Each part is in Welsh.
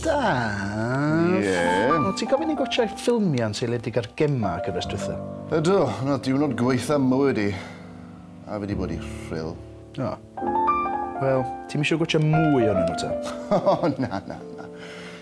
Daf. Ie? O, ti'n gofyn i gwatsio'i ffilmiau'n seiliedig ar gemau gyfres dwytha? Ydw, na diwrnod gwaetha mywyd i. A fi di bod i rhyl. O. Wel, ti'm isio gwatsio mwy ohonyn nhw ta? O, na, na, na.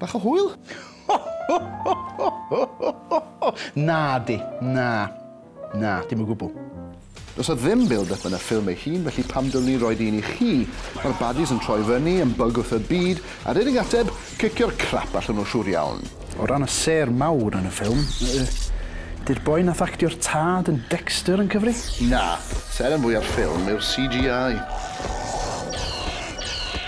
Bach o hwyl? Nadi, na. Na, dim o gwbl. Does 'na ddim build-up yn y ffilm ei hun, felly pam dylwn i roid un i chi? Mae'r baddies yn troi fyny, yn bug wrth y byd, a'r unig ateb, cicio'r crap allan nhw siŵr iawn. O ran y sêr mawr yn y ffilm, yy, 'di'r boi nath actio'r tad yn Dexter yn cyfri? Na, seren fwya'r ffilm yw'r CGI.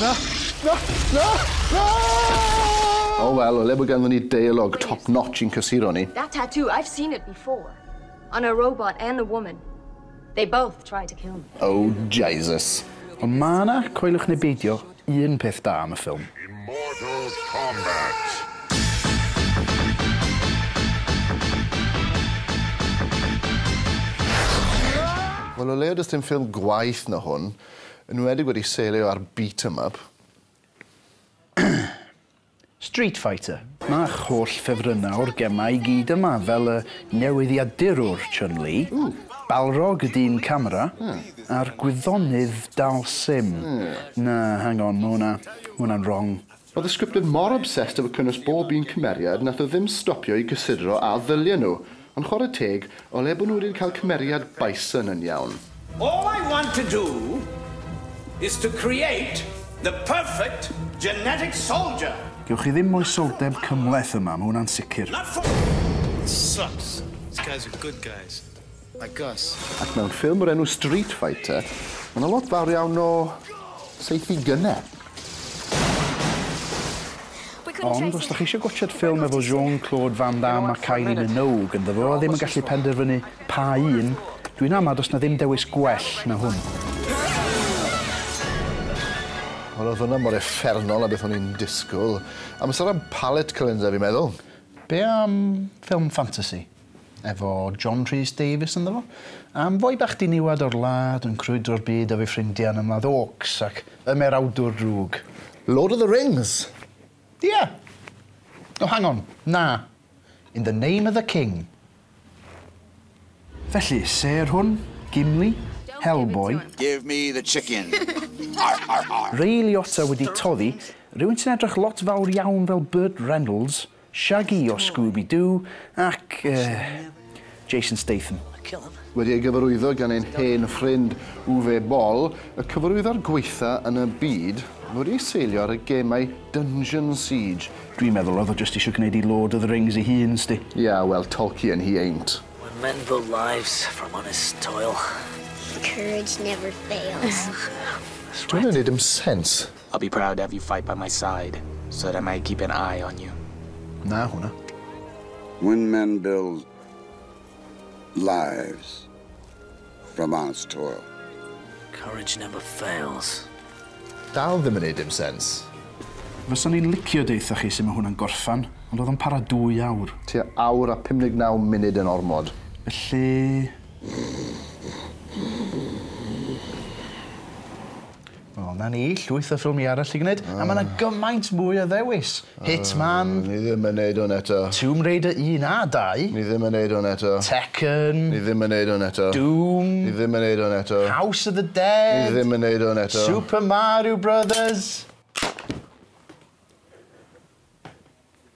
Na! Na! Na! Na! O wel, o le bod ganddon ni deialog top notch i'n cysuro ni. That tattoo, I've seen it before. On a robot and a woman. They both tried to kill me. Oh Jesus. Ond ma' 'na, coeliwch neu beidio, un peth da am y ffilm. Mortal Kombat! Wel o leia does dim ffilm gwaeth na hwn, yn enwedig wedi seilio ar beat 'em up. Street Fighter. Mae'ch holl ffefrynnau o'r gemau i gyd yma, fel y newyddiadurwr Chun Li, Balrog y dyn camera, a'r gwyddonydd Dhalsim. Na, hang on, ma' hwnna, ma' hwnna'n wrong. Oedd y scriptydd mor obsessed efo cynnwys bob un cymeriad nath o ddim stopio i gysidro a ddylien nhw Ond chwarae teg, o le bod nhw wedi cael cymeriad Bison yn iawn? All I want to do is to create the perfect genetic soldier! Gewch chi ddim moesoldeb cymhleth yma, mae hwnna'n sicr. Not for It sucks. These guys are good guys. Like us. Ac mewn ffilm o'r enw Street Fighter, mae 'na lot fawr iawn o saethu gynnau. Ond os dach chi eisiau gwatsiad ffilm efo Jean Claude Van Damme a Kylie Minogue ynddo fo a ddim yn gallu penderfynu pa un, dwi'n ama does 'na ddim dewis gwell na hwn. Wel oedd hwnna mor effernol a beth o'n i'n disgwyl. Amser am palette cleanser fi'n meddwl. Be am ffilm ffantasi? efo John Rhys Davies ynddo fo, am foi bach diniwed o'r wlad yn crwydro'r byd efo'i ffrindia yn ymladd Orcs ac ymerawdwr drwg. Lord of the Rings! Ia! O, hang on, na. In the Name of the King. Felly, sêr hwn, Gimli, Hellboy. Give me the chicken! Argh, argh, argh! Ray Liotta wedi toddi, rywun sy'n edrych lot fawr iawn fel Burt Reynolds. Shaggy o Scooby Doo ac Jason Statham. Wedi ei gyfarwyddo gan ein hen ffrind Uwe Boll, y cyfarwyddwr gwaetha yn y byd, mae wedi ei seilio ar y gemau Dungeon Siege. Dwi'n meddwl oedd o jyst isio gwneud i Lord of the Rings ei hun, 'sdi. Ia, wel, Tolkien he ain't. When men build lives from honest toil. Courage never fails. Dyw hwnna'n neud dim sens. I'll be proud to have you fight by my side so that I may keep an eye on you. Na hwnna. When men build lives from honest toil. Courage never fails. Dal ddim yn neud dim sens. Fyswn i'n licio deutha chi sut mae hwnna'n gorffan, ond oedd o'n para dwy awr. Tua awr a 59 munud yn ormod. Felly... O 'na ni, llwyth o ffilmie arall i gneud. A ma' 'na gymaint mwy o ddewis. Hitman. O ni ddim yn neud hwn eto. Tomb Raider un a dau. Ni ddim yn neud hwn eto. Tekken. Ni ddim yn neud hwn eto. Doom. Ni ddim yn neud hwn eto. House of the Dead. Ni ddim yn neud hwn eto. Super Mario Brothers.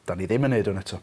Da ni ddim yn neud hwn eto.